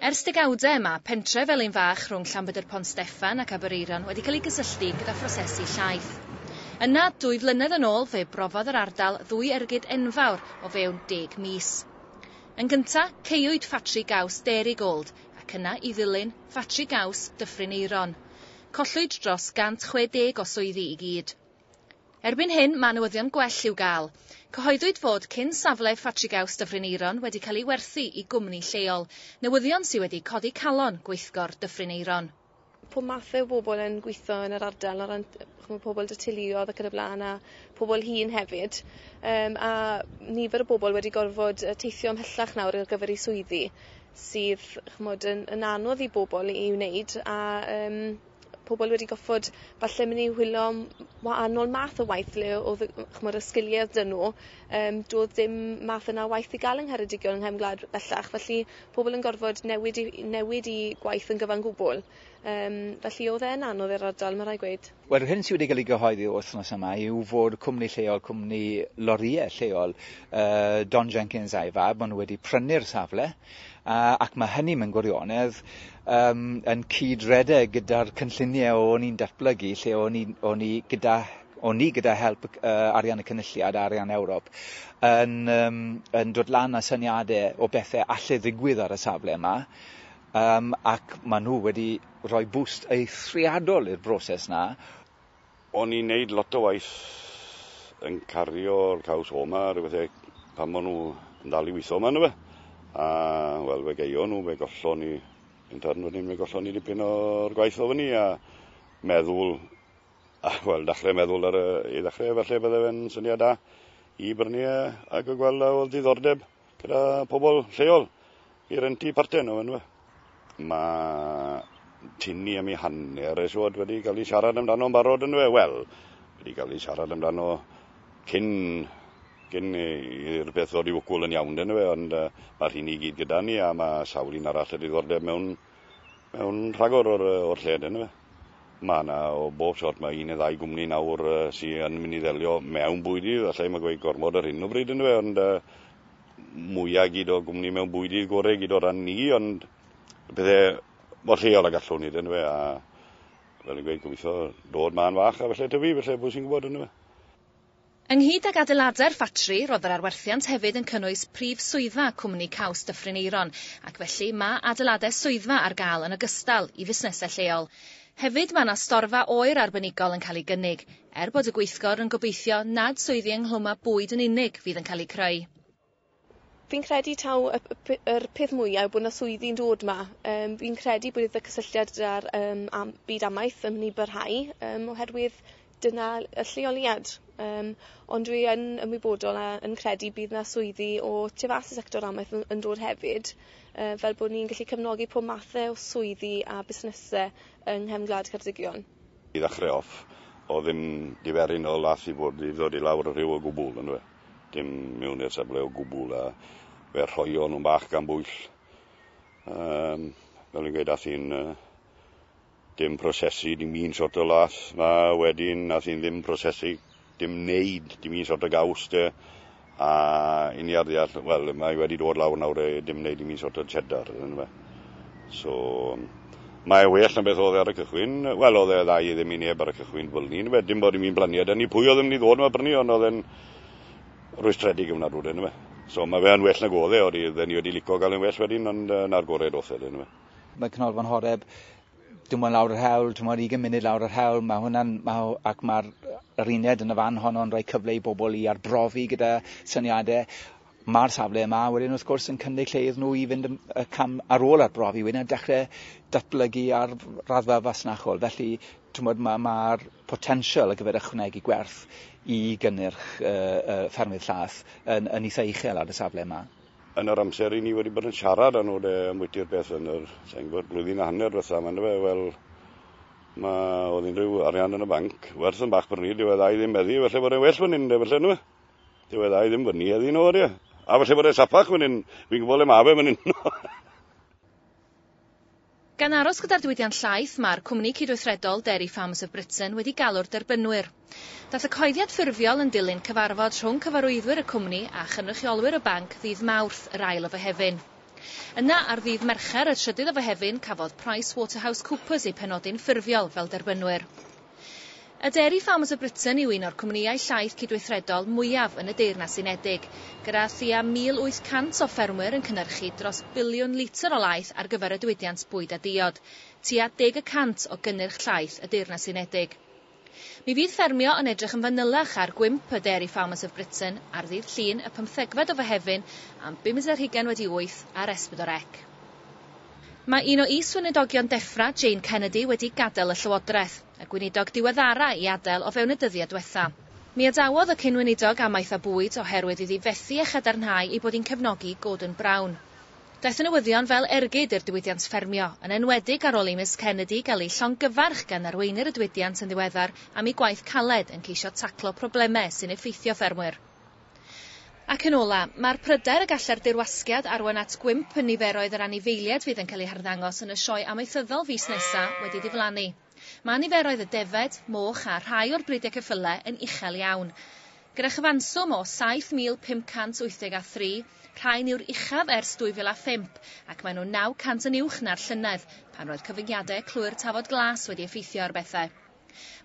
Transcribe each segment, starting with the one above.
Ers degawdau, mae pentref fel un fach rhwng Llanbedr Pont Steffan ac Aberaeron wedi cael ei gysylltu gyda phrosesu llaeth. Yna, dwy flynedd yn ôl, fe brofodd yr ardal ddwy ergyd enfawr o fewn deg mis. Yn gyntaf, caewyd ffatri gaws Dairygold, ac yna, i ddilyn, ffatri gaws Dyffryn Aeron. Collwyd dros 160 o swyddi i gyd. Erbyn hyn, mae newyddion gwell i'w gael. Cyhoeddwyd fod cyn safle Ffatrigaws Dyffryn Aeron wedi cael ei werthu i gwmni lleol, newyddion sydd wedi codi calon gweithgor Dyffryn Aeron. pob math o bobl yn gweitho yn yr ardal o ran ch'mo' pobl 'da teuluodd ac yn y bla'n a pobl hŷn hefyd yym a nifer o bobl wedi gorfod yy teithio ymhellach nawr ar gyfer 'u swyddi sydd ch'mod yn yn anodd i bobl i i wneud a yym pobol wedi goffod falle myn' i wylio am wahanol math o waith le odd y w- ch'mod y sgilie odd 'dy nw yym do'dd dim math yna o waith i ga'l yng Ngheredigion yng nghefn gwlad bellach felly pobol yn gorfod newid 'u i- newid 'u gwaith yn gyfan gwbwl. Yym felly odd e'n anodd i'r ardal ma' rai' gweud. Wel yr hyn sy wedi ga'l 'i gyhoeddi yr wythnos yma yw fod cwmni lleol cwmni lorie lleol yy Don Jenkins a'i fab ma' nw wedi prynu'r safle ac mae hynny mewn gwirionedd um, yn cyd-redeg gyda'r cynlluniau o'n i'n datblygu lle o'n i, o'n i gyda o'n ni gyda help uh, arian y cynulliad a arian Ewrop yn, um, yn dod lan â syniadau o bethau allai ddigwydd ar y safle yma um, ac maen nhw wedi rhoi bwst eithriadol i'r broses na O'n i'n neud lot o waith yn cario'r caws homa a ryw bethe pan o'n nhw yn dal i witho yma yndyfe? A wel fe gaeon nhw, fe gollon ni yn Tafrn Fynhyn fe gollon ni dipyn o'r gwaith o fyny a meddwl a wel dachre meddwl ar y i ddachre falle bydde fe'n syniad da i brynu e ac y gweld a oedd diddordeb. gyda pobl lleol i rentu parten nhw yndyfe. Mae tynnu am ei hanner y siwod wedi cael ei siarad amdano'n barod yndyfe. Wel, wedi cael ei siarad amdano cyn cyn i'r peth ddod i wcwl yn iawn yndyfe, ond uh, mae'r hyn i gyd gyda ni a mae sawl un arall y diddordeb mewn Mae'n rhagor o'r, o'r lled yn fe. Mae yna o bob sort, mae un neu ddau gwmni nawr uh, sydd yn mynd i ddelio mewn bwydydd, allai mae gweud gormod ar hyn o bryd yn fe, ond uh, mwyaf gyd o gwmni mewn bwydydd gorau gyd o ran ni, ond y pethau mor lleol a gallwn ni, dyn fe, a fel yn gweud, gobeithio dod ma'n fach a felly tyfu, felly bwys i'n gwybod yn fe. Ynghyd ag adeiladau'r ffatri, roedd yr arwerthiant hefyd yn cynnwys prif swyddfa cwmni caws Dyffryn Aeron, ac felly mae adeiladau swyddfa ar gael yn ogystal i fusnesau lleol. Hefyd mae yna storfa oer arbenigol yn cael ei gynnig, er bod y gweithgor yn gobeithio nad swyddi ynghlwm â bwyd yn unig fydd yn cael eu creu. Fi'n credu taw y p- p- yr peth mwya yw bo' 'na swyddi'n dod 'ma yym fi'n credu bydd y cysylltiad 'da'r yym am- byd amaeth yn myn' i barhau yym oherwydd dyna l- y lleoliad yym ond dwi yn ymwybodol a yn credu bydd 'na swyddi o tu fas i sector amaeth yn yn dod hefyd yy fel bo' ni'n gallu cefnogi pob mathe o swyddi a busnese yng nghefn gwlad Ceredigion. I ddechre off, o'dd dim diferyn o lath i fod i ddod i lawr y rhiw o gwbwl, on'd yw e? dim mewn i'r safle o gwbl a fe rhoio nhw'n bach gan bwyll. Um, fel yn gweud, ath i'n uh, dim prosesu, dim un sort o las na wedyn, ath i'n ddim prosesu, dim wneud, dim un sort o gaws de. A i ni ar ddeall, wel, mae wedi dod lawr nawr e, dim wneud dim un sort o cheddar, yn fe. So, mae e well na beth oedd e ar y cychwyn. Wel, oedd e dda i ddim i neb ar y cychwyn, fel ni'n wedyn bod ni'n mynd blaniad yn ni. Pwy oedd yn mynd i ddod yma brynu, ond oedd e'n rwystredig yna rwy'n yma. So, mae fe yn well na godd e, oedd e ni wedi lico gael yn well wedyn, ond uh, na'r gorau doth e, yma. Mae Cynolfan Horeb dim ond lawr yr hewl, ti'n modd 20 munud lawr yr hewl, mae hwnna'n, mae, ac mae'r yr uned yn y fan honno'n rhoi cyfle i bobl i arbrofi gyda syniadau, Mae'r safle yma wedyn wrth gwrs yn cynnig lle iddyn nhw i fynd y cam ar ôl arbrofi wedyn a dechrau datblygu ar raddfa fasnachol. Felly, twmod, mae'r ma, ma potensial ar gyfer ychwanegu gwerth i gynnyrch uh, uh, ffermydd llath yn, yn eitha uchel ar y safle yma. Yn yr amser i ni wedi bod yn siarad â nhw de, am wyti'r beth yn yr, sa'n gwybod, blwyddyn a hanner ddiwetha yma, fe, wel, mae oedd unrhyw arian yn y banc, werth yn bach bryd, yw e ddau ddim meddu, felly bod e'n well fan hyn, felly nhw. Dwi wedi ei ddim fyny heddi nhw, ie. A felly bod e sapach fan hyn, fi'n gwybod le mae fe fan hyn. Gan aros gyda'r diwydiant llaeth, mae'r cwmni cydweithredol Dairy Farmers of Britain wedi galw'r derbynwyr. Daeth y cyhoeddiad ffurfiol yn dilyn cyfarfod rhwng cyfarwyddwyr y cwmni a chynrychiolwyr y banc ddydd Mawrth, yr ail o Fehefin. Yna, ar ddydd Mercher, y trydydd o Fehefin, cafodd PricewaterhouseCoopers eu penodi'n ffurfiol fel derbynwyr. A Dairy Farmers of Britain yw un o'r cwmnïau llaeth cydweithredol mwyaf yn y Deyrnas Unedig, gyda thua 1,800 o ffermwyr yn cynhyrchu dros biliwn litr o laeth ar gyfer y diwydiant bwyd a diod, tua deg y cant o gynnyrch llaeth y Deyrnas Unedig. Mi fydd ffermio yn edrych yn fanylach ar gwymp y Dairy Farmers of Britain ar ddydd Llun y pymthegfed o Fehefin am bum-deg ar hugain wedi wyth ar Esbydor Ec. Mae un o is-weinidogion Defra, Jane Kennedy, wedi gadael y llywodraeth, y gweinidog diweddara' i adael o fewn y dyddiau diwetha'. Mi adawodd y cyn-weinidog amaeth a bwyd oherwydd iddi fethu â chadarnhau ei bod hi'n cefnogi Gordon Brown. Daeth y newyddion fel ergyd i'r diwydiant ffermio, yn enwedig ar ôl i Miss Kennedy gael ei llongyfarch gan arweinwyr y diwydiant yn ddiweddar am ei gwaith caled yn ceisio taclo problemau sy'n effeithio ffermwyr. Ac yn ola, mae'r pryder y gallai'r dirwasgiad arwain at gwymp yn niferoedd yr anifeiliaid fydd yn cael eu harddangos yn y sioe amaethyddol fis nesa' wedi diflannu. Mae niferoedd y defaid, moch a rhai o'r bridiau ceffyle yn uchel iawn. Gyda chyfanswm o 7,583, rhain yw'r uchaf ers 2005 ac maen nhw'n 900 yn uwch na'r llynedd pan roedd cyfyngiadau clwy'r Tafod Glas wedi effeithio ar bethau.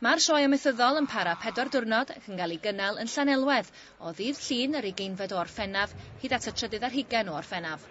Mae'r Sioe Amaethyddol yn para pedwar diwrnod ac yn cael ei gynnal yn Llanelwedd o ddydd Llun yr ugeinfed o Orffennaf hyd at y trydydd ar hugain o Orffennaf.